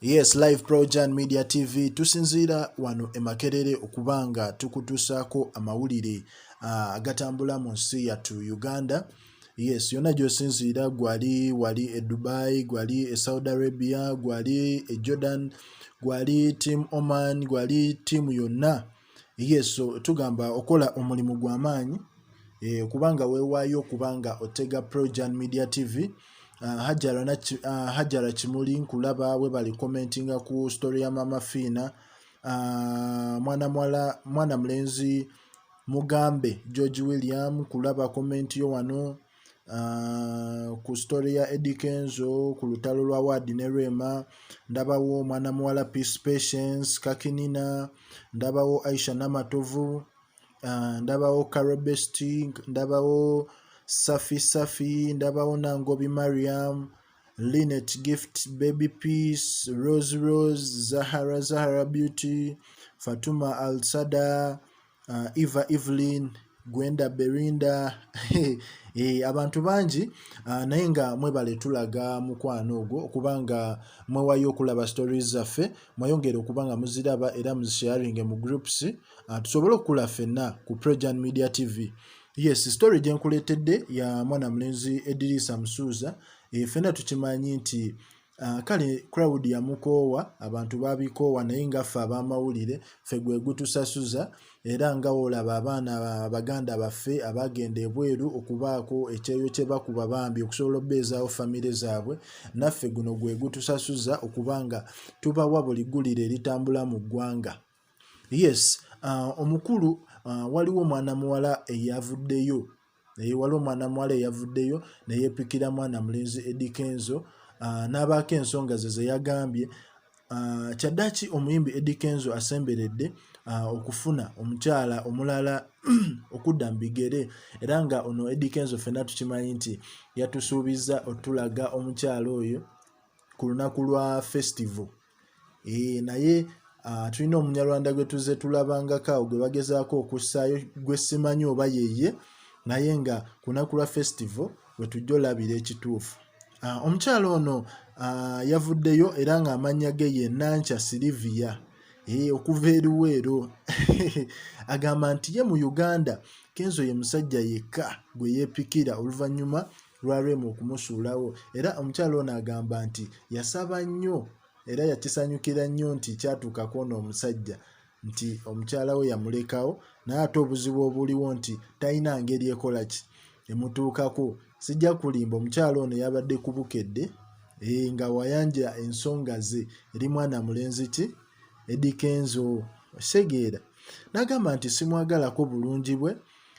Yes, live pro Jan Media TV tusinziira wano e Makerere okuba nga tukutuusaako amawulire ah, agatambula uh, mu nsi yattu Uganda. Yes, yonna gy'osinziira gwali wali e Dubai, gwali e Saudi Arabia, gwali e Jordan, gwali team Oman, gwali team yonna. yesu tugamba okola omulimu gwa maanyi eh, kubanga weewaayo okubanga otega projan media tv ah, hajara ah, kimuli nkulaba webali commentinga ku story ya mama fiina ah, mwana mwala mwana mulenzi mugambe george william kulaba komenti yo wano Uh, ku story ya Eddie Kenzo ku lutalo lwa Wadi ne Rema ndabawo omwana muwala Peace Patience Kakinina ndabawo Aisha Namatovu uh, ndabawo Carol Besting ndabawo Safi Safi ndabawo Nangobi Mariam Linet Gift Baby Peace Rose Rose Zahara Zahara Beauty Fatuma Alsada uh, eva evelyn gwenda berinda e, abantu bangi uh, naye nga mwebale tulaga mukwano ogwo okuba nga mwewayo okulaba stories zaffe mweyongere okuba nga muziraba era muzisharinge mu groups uh, tusobole okukula fenna ku prejan media tv yes story gyenkuleetedde ya mwana mulenzi edirisa musuuza e, fenna tukimanyi nti Ah, kale crowd yamukoowa abantu babikoowa naye ngaffe abamawulire fe gwegutusasuza era nga olaba abaana abaganda baffe abagenda ebweru okubaako ekyeyo kyebakuba bambi okusobola obeezaawo famire zaabwe naffe guno gwegutusasuza okuba nga tubawa buli gulire eritambula mu ggwanga yes uh, omukulu uh, waliwo omwana muwala eyavuddeyo naye waliwo omwana muwala eyavuddeyo neyepikira mwana mulenzi edikenzo uh, n'abaako ensonga ze zeyagambye uh, kyaddaki omuyimbi edikenzo asemberedde uh, okufuna omukyala omulala okudda mu bigere era nga ono edikenzo fenna tukimanyi nti yatusuubizza otulaga omukyala oyo ku lunaku lwa festival naye ah, tulina omunyarwanda gwe tuze tulabangako awo gwe bagezaako okussaayo gwe simanyi oba yeye naye nga kunaku lwa festival wetujja olabira ekituufu ah, omukyalo ono ah, yavuddeyo era ng'amannya ge ye nankya siliviya eh, okuva eriweero agamba nti ye mu uganda kenzo ye musajja yekka gwe yeepikira oluvannyuma lwa Rema okumusuulawo era omukyala ono agamba nti yasaba nnyo era yakisanyukira nnyo nti kyatuuka kwona omusajja nti omukyala we yamulekawo naye ate obuzibu obuliwo nti talina ngeri ekola ki emutuukako sijja kulimba omukyala ono yabadde ku bukedde eh, nga wayanja ensonga ze eri mwana mulenzi ki edikenzo osegeera nagamba nti simwagalako bulungi bwe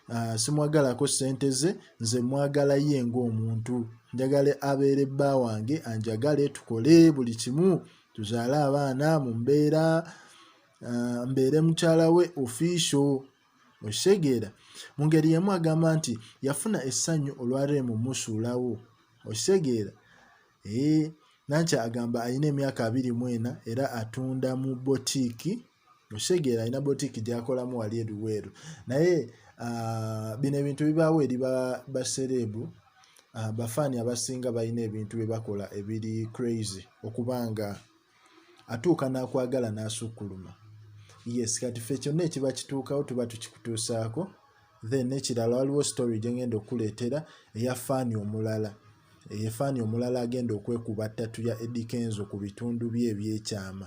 uh, simwagalako sente ze nze mwagala ye ng'omuntu njagala abeere bba wange anjagale tukole buli kimu tuzaale abaana mu mbeera uh, mbeere mukyala we ofiisio okitegeera mu ngeri yemu agamba nti yafuna essanyu olwa reemu musuulawo okitegeera ee eh, nankya agamba alina emyaka abiri mu ena era atunda mu botiiki okitegeera alina botiki gyakolamu wali ebiweeru naye ah, bino ebintu bibaawo eri basereebu ah, bafaani abasinga balina ebintu bye bakola ebiri crazy okuba nga atuuka n'akwagala n'asukkuluma yes kati fe kyonna ekiba kituukawo tuba tukikutuusaako then nekirala waliwo story gyengenda okukuleetera eya faani omulala eyefaani omulala agenda okwekuba ttatu ya edikenzo ku bitundu bye ebyekyama